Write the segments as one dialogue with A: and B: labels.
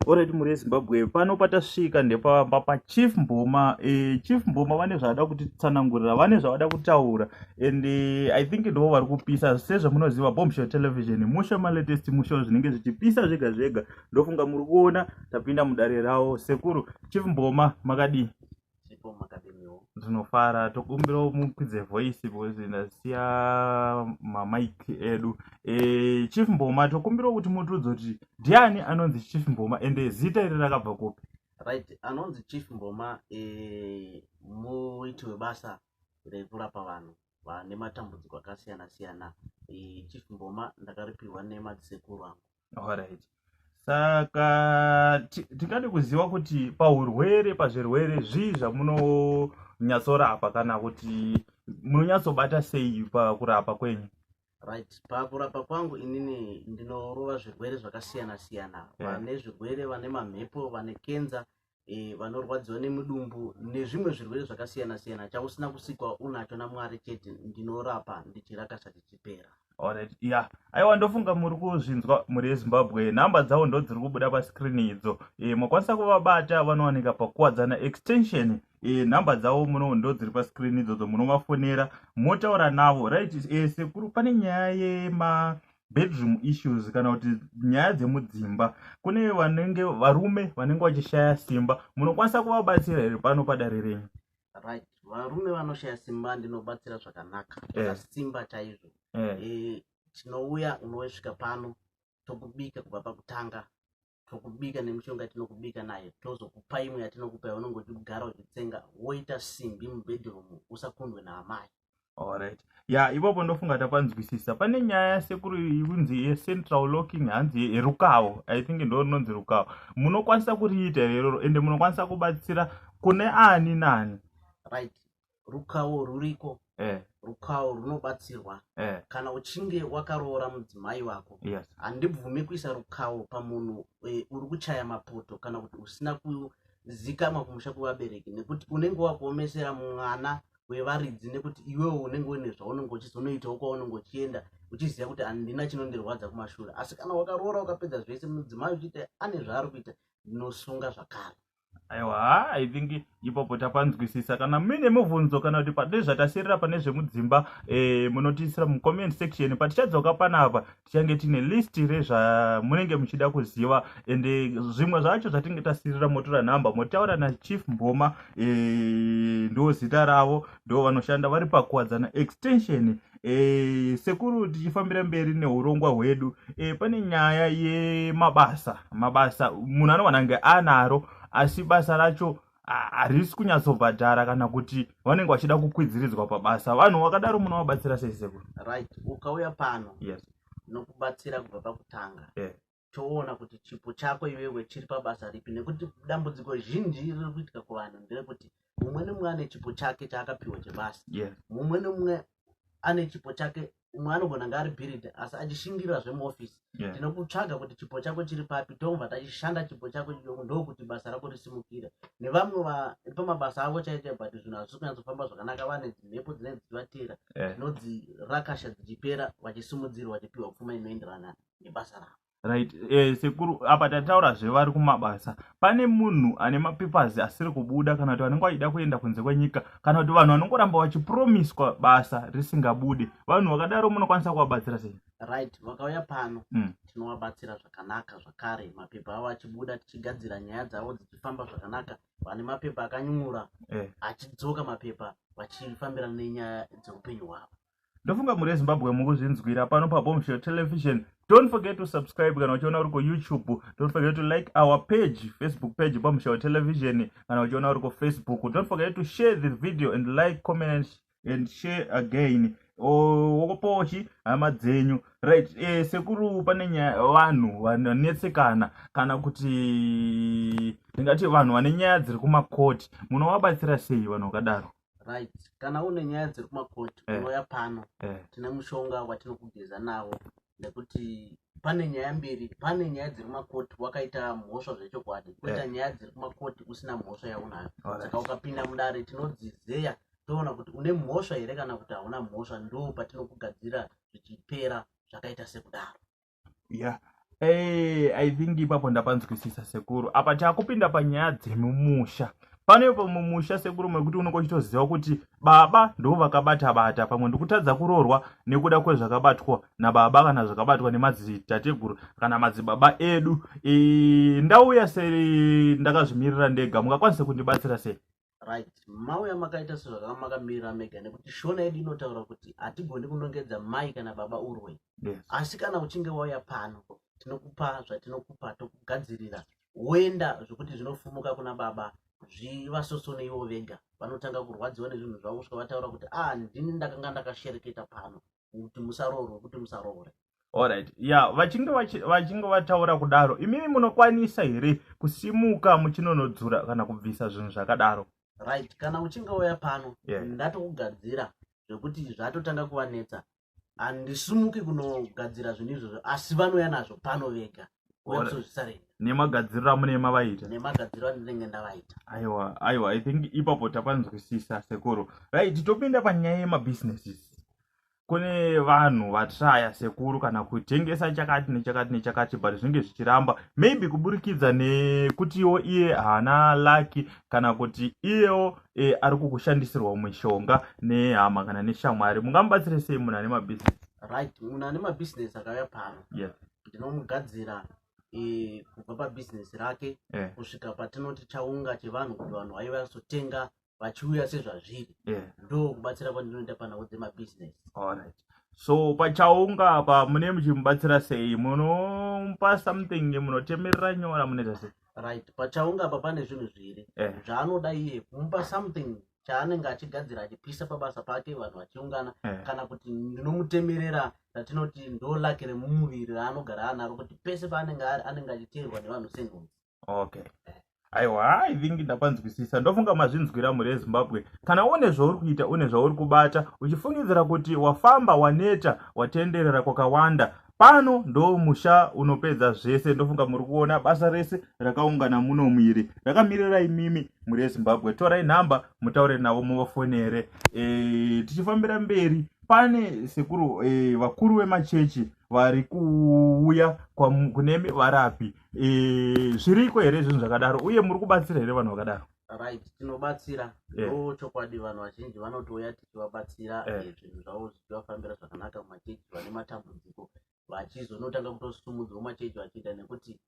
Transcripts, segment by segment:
A: Alright mhuri yeZimbabwe pano patasvika ndepamba pachief Mboma eh, chief Mboma vane zvavada kutitsanangurira vane zvavada kutaura and eh, I think ndivo vari kupisa sezvamunoziva Bombshell Television musha malatest musha zvinenge zvichipisa zvega zvega ndofunga muri kuona tapinda mudare rawo sekuru chief Mboma makadii chipo makadiniwo ndinofara tokumbirawo mukwidze voice because ndasiya mamic edu e, chief mboma tokumbirawo kuti mutiudze kuti ndiani anonzi chief mboma ende zita iri rakabva kupi right anonzi
B: chief mboma e, muiti webasa rekurapa vanhu vane matambudziko akasiyana siyana e, chief mboma ndakaripirwa nemadzisekuru angu alright
A: saka tingade kuziva kuti paurwere pazvirwere zvii zvamunonyatsorapa kana kuti munonyatsobata sei pakurapa kwenyu right
B: pakurapa kwangu inini ndinorova zvirwere zvakasiyana siyana vane zvirwere vane mamhepo vane kenza e, vanorwadziwa nemudumbu nezvimwe zvirwere zvakasiyana siyana chausina kusikwa unacho namwari chete ndinorapa ndichirakasa tichipera Alright, yeah.
A: Aiwa ndofunga muri kuzvinzwa muri yeZimbabwe. Nhamba dzavo ndo dziri kubuda pascreen idzo. E, mokwanisa kuvabata vanowanika pakuwadzana extension. E, nhamba dzavo muno ndo dziri pascreen idzodzo munovafonera motaura navo. Right, e, sekuru pane nyaya yema bedroom issues kana kuti nyaya dzemudzimba kune vanenge varume vanenge vachishaya simba munokwanisa kuvabatsira here pano padare renyu right
B: varume vanoshaya simba ndinobatsira zvakanaka yeah. simba chaizvo yeah. e, tinouya unosvika pano tokubika kubva pakutanga tokubika nemishonga yatinokubika nayo tozokupa imwe yatinokupa yaunenge uchigara uchitsenga woita simbi mubedroom usakundwe naamai Alright.
A: Ya ipapo ndofunga tapanzwisisa. Pane nyaya yasekuru kunzi yecentral locking hanzi yerukawo. I think ndo rinonzi rukawo. Munokwanisa kuriita iroro ende munokwanisa kubatsira kune ani nani. Right.
B: rukawo ruriko eh. rukawo runobatsirwa eh. kana uchinge wakaroora mudzimai wako yes. handibvume
A: kuisa
B: rukawo pamunhu e, uri kuchaya mapoto kana kuti usina kuzikamwa kumusha kwevabereki nekuti unenge wakuomesera mwana wevaridzi nekuti iwewo unenge une zvaunenge uchizonoitawo kwaunenge uchienda uchiziva kuti handina chinondirwadza kumashure asi kana wakaroora ukapedza zvese mudzimai uchiita ane zvaari kuita ndinosunga zvakare aiwa ha
A: i think ipapo tapanzwisisa kana muine mubvunzo kana kuti pane zvatasirira pane zvemudzimba e, munotiisira mucomment section patichadzoka panapa tichange tiine list rezvamunenge muchida kuziva and zvimwe zvacho zvatinge tasirira motora nhamba motaura nachief mboma e, ndo zita ravo ndo vanoshanda vari pakuwadzana extension e, sekuru tichifambira mberi neurongwa hwedu e, pane nyaya yemabasa mabasa munhu anowana nge anaro asi basa racho harisi kunyatsobhadhara kana kuti vanenge vachida kukwidziridzwa pabasa vanhu vakadaro munovabatsira sei sekuru right ukauya
B: pano yes
A: nokubatsira
B: kubva pakutanga yeah. toona kuti chipo chako iwewe chiri pabasa ripi nekuti dambudziko zhinji riri kuitika kuvanhu nderekuti mumwe nemumwe ane chipo chake chaakapiwa chebasa mumwe nemumwe ane chipo chake umwe anogona ngaari bhiridha asi achishingira zvemuofisi tinokutsvaga kuti chipo chako chiri papi tobva tachishanda chipo chako ndokuti basa rako risimukire nevamwe vari pamabasa avo chaite but zvinhu hazvisi kunyatsofamba zvakanaka vane dzimhepo dzinenge dzichivatera dzinodzi rakasha dzichipera vachisimudzirwa vachipiwa pfuma inoenderana nebasa ravo right eh,
A: sekuru apa tataura zvevari kumabasa pane munhu ane mapapers asiri kubuda kana kuti vanenge vachida kuenda kunze kwenyika kana kuti vanhu vanongoramba vachipromiswa basa risingabude vanhu vakadaro munokwanisa kuvabatsira sei right vakauya
B: pano mm. tinovabatsira zvakanaka zvakare mapepa avo achibuda tichigadzira nyaya dzavo dzichifamba zvakanaka vane mapepa akanyura eh. achidzoka mapepa vachifambirana nenyaya dzeupenyu hwavo ndofunga muri ezimbabwe
A: mukuzvinzwira pano pabombshell television don't forget to subscribe kana uchiona uri kuyoutube don't forget to like our page facebook page bombshell television kana uchiona uri kufacebook don't forget to share the video and like comment and share again wokopochi hama dzenyu right e, sekuru pane nyaya vanhu vanetsekana kana kuti ndingati vanhu vane nyaya dziri kumakoti munovabatsira sei vanhu vakadaro right kana
B: une nyaya dziri kumakoti Eh. unouya pano Eh. tine mushonga watinokugeza nawo nekuti pane nyaya mbiri pane nyaya dziri kumakoti wakaita mhosva zvechokwadi koita Eh. nyaya dziri kumakoti usina mhosva yaunayo Alright. saka ukapinda mudare tinodzizeya toona kuti une mhosva here kana kuti hauna mhosva ndo patinokugadzira zvichipera zvakaita sekudaro yeah Hey,
A: eh, i think ipapo ndapanzwisisa sekuru apa takupinda panyaya dzemumusha pane ipo mumusha sekuru mekuti unenge uchitoziva kuti baba ndoo vakabata bata pamwe ndikutadza kuroorwa nekuda kwezvakabatwa nababa kana zvakabatwa nemadzitateguru kana madzibaba edu e, ndauya se ndakazvimirira ndega mungakwanise kundibatsira sei right
B: mauya makaita sezvakanga makamirira mega nekuti shona yedu inotaura kuti hatigoni kunongedza mai kana baba urwe yes. asi kana
A: uchinge
B: wauya pano tinokupa zvatinokupa tokugadzirira woenda zvekuti zvinofumuka kuna baba zvivasosone ivo vega vanotanga kurwadziwa nezvinhu zvavo kusvika vataura kuti a ah, ndini ndakanga ndakashereketa pano kuti musaroorwe kuti musaroore Alright. Ya,
A: vachinge vachinge vataura kudaro, imimi munokwanisa here kusimuka muchinonodzura kana kubvisa zvinhu zvakadaro? Right, kana
B: uchinge uya pano, yeah. ndatokugadzira zvekuti zvatotanga kuvanetsa. Handisimuki kunogadzira zvinhu izvozvo, asi vanouya nazvo pano vega. nemagadziriro amune
A: mavaita nemagadziriro andinenge
B: ndavaita aiwa aiwa i think
A: ipapo tapanzwisisa sekuru right topinda panyaya yemabusinesses kune vanhu vatraya sekuru kana kutengesa chakati nechakati nechakati but zvinenge zvichiramba maybe kuburikidza nekutiwo iye haana laki kana kuti iyewo e, ari kukushandisirwa mishonga nehama kana neshamwari mungamubatsire sei munhu ane mabusiness right munhu ane
B: mabusiness akauya pano yes.
A: ndinomugadzira
B: eh, kubva pabhizinesi rake Yeah. kusvika patinoti chaunga chevanhu kuti vanhu vaiva vazotenga vachiuya sezvazviri Yeah. ndo kubatsira kwandinoita panhau dzemabhizinesi Alright.
A: So pachaunga apa mune muchimubatsira sei? Munomupa something munotemerera nyora munoita sei? right pachaunga
B: apa pane zvinhu zviri Eh. zvaanoda iye kumupa something chaanenge achigadzira achipisa pabasa pake vanhu vachiungana eh. kana kuti ndinomutemerera ratinoti ndo lake remumuviri raanogara anaro kuti pese paanenge ari anenge achiteerwa nevanhu senhunzi okay
A: aiwa i think ndakwanzwisisa ndofunga mazvinzwira mhuri yezimbabwe kana une zvauri kuita une zvauri kubata uchifungidzira kuti wafamba waneta watenderera kwakawanda pano ndo musha unopedza zvese ndofunga muri kuona basa rese rakaungana muno muiri rakamirira imimi muri yezimbabwe torai nhamba mutaure navo muvafonere e, tichifambira mberi pane sekuru e, vakuru vemachechi vari kuuya kunemi varapi e, zviriko here zvinhu zvakadaro uye muri kubatsira here vanhu vakadaro right tinobatsira
B: Eh. ndo chokwadi vanhu vazhinji vanotouya tichivabatsira Eh. eh, zvinhu zvavo zvichivafambira zvakanaka mumachechi vane matambudziko vachizonotanga kutosumudzwa mumachechi vachiita nekuti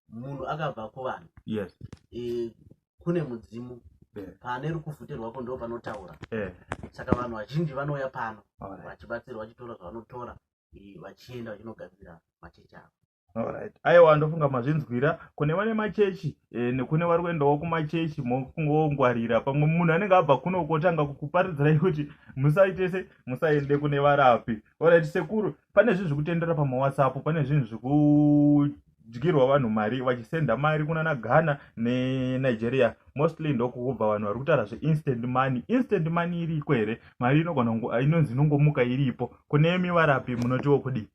B: munhu akabva kuvanhu yes eh, kune mudzimu Eh. pane rukufutirwako ndo panotaura eh saka vanhu vazhinji vanouya pano alright vachibatsirwa vachitora zvavanotora eh, vachienda vachinogadzira machechi avo Alright. Aiwa
A: ndofunga mazvinzwira kune vane machechi e, nekune vari kuendawo kumachechi mokungongwarira pamwe munhu anenge abva kuno kotanga kukuparidzirai kuti musaitese musaende kune varapi orit sekuru pane zvinhu zvekutendera pamawhatsapp pane zvinhu zvekudyirwa vanhu mari vachisenda mari kunana ghana nenigeria mostly ndokukubva vanhu vari kutaura zveinstant money instant money iriko here mari inogona inonzi inongomuka iripo kune mivarapi munotiwo kudii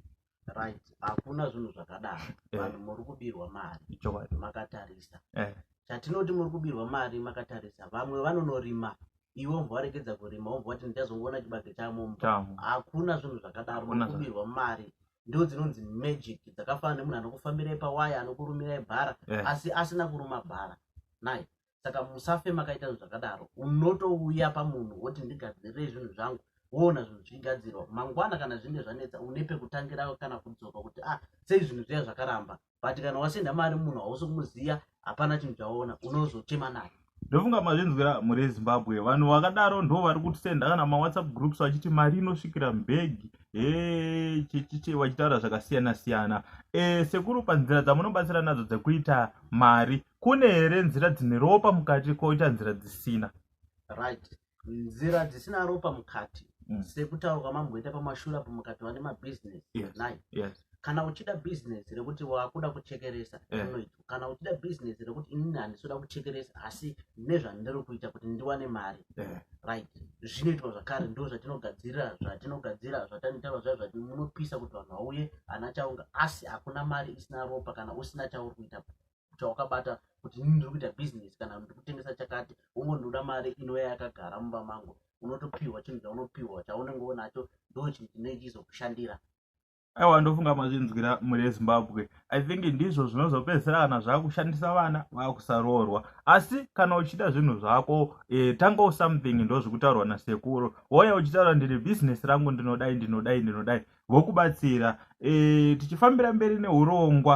A: right
B: hakuna zvinhu zvakadaro Eh. vanhu muri kubirwa mari ichokwadi makatarisa Eh. chatinoti muri kubirwa mari makatarisa vamwe vanonorima iwe wobva waregedza kurima wobva wati ndichazongoona chibage chamomba chamo hakuna zvinhu zvakadaro Hakuna muri kubirwa mari ndo dzinonzi magic dzakafanana nemunhu anokufambirai pawaya anokurumirai bhara Eh. asi asina kuruma bhara nai saka musafe makaita zvinhu zvakadaro unotouya pamunhu woti ndigadzirei zvinhu zvangu woona zvinhu zvichigadzirwa mangwana kana zvinge zvanetsa une pekutangira kana kudzoka kuti ah sei zvinhu zviya zvakaramba but kana wasenda mari munhu hausi kumuziva hapana chinhu chawaona unozochema naye ndofunga mazvinzwira
A: mhuri yezimbabwe vanhu vakadaro ndo vari kutisenda kana mawhatsapp groups vachiti mari inosvikira mbegi hechichichi vachitaura zvakasiyana siyana e, sekuru panzira dzamunobatsira nadzo dzekuita mari kune here nzira dzine ropa mukati koita nzira dzisina right
B: nzira dzisina ropa mukati mm. sekutaura kwamamboita pamashura apo mukati vane mabhizinesi yes. nai yes
A: kana uchida
B: bhizinesi rekuti wakuda kuchekeresa eh. unoita kana uchida bhizinesi rekuti inini handisoda kuchekeresa asi nezvandiri kuita kuti ndiwane mari eh. right zvinoitwa zvakare ndo zvatinogadzirira zvatinogadzira zvatanotaura zva zvati munopisa kuti vanhu vauye ana chaunga asi hakuna mari isina ropa kana usina chauri kuita chawakabata kuti nini ndiri kuita bhizinesi kana ndiri kutengesa chakati wongo ndinoda mari inouya yakagara mumba mangu unotopiwa chinhu chaunopiwa chaunenge unacho ndo chinhu chinenge chizokushandira aiwa
A: ndofunga mazvinzwira mhuri yezimbabwe i think ndizvo zvinozopedzisira kana zvakushandisa vana vakusaroorwa asi kana uchiita zvinhu zvako e, eh, tangawo something ndozvikutaurwa nasekuru woya uchitaura ndiri bhizinesi rangu ndinodai ndinodai ndinodai vokubatsira e, tichifambira mberi neurongwa